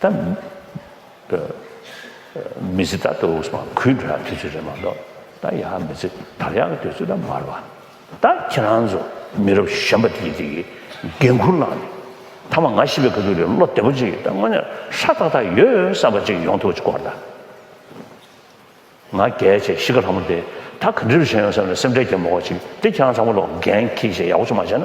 ད་མི་ཚེ་ད་ལྟ་བུ་ཟུང་གུས་འདྲ་དུས་ཚོད་རེད་མ་གཏོགས་ད་ཡག་མི་ཚེ་དར་ཡག་གི་དུས་ཚོད་ད་མར་བ་ད་ཁྱེད་རང་ཚོ་མི་རབས་གཞན་པ་དེ་དེ་གི་འགན་འཁུར་བླངས་ནས་ད་མ་ང་ཤི་བའི་ག་དུས་རེད་བློ་བདེ་པོ་ཅིག་ད་དངོས་གནས་ཧྲ་ཐག་ཐག་ཡོད་བསམ་པ་ཅིག་ཡོང་ཐུབ་ཅིག་གོ་ད་ང་རྒྱལ་ཆེ་གཞིས་ཀ་ལྷ་མོ་དེ་ད་ག་འདྲི་རུ་བྱེད་ཡོང་བསམ་ནས་སེམས་ཁྲལ་རྒྱབ་མ་གོ་ཅིག་དེ་ཁྱེད་རང་ཚང་མ་ལོ་འགན་ཁྱེད་ཀྱིས་ཡག་པོ་ཅིག་མ་བྱས་ན།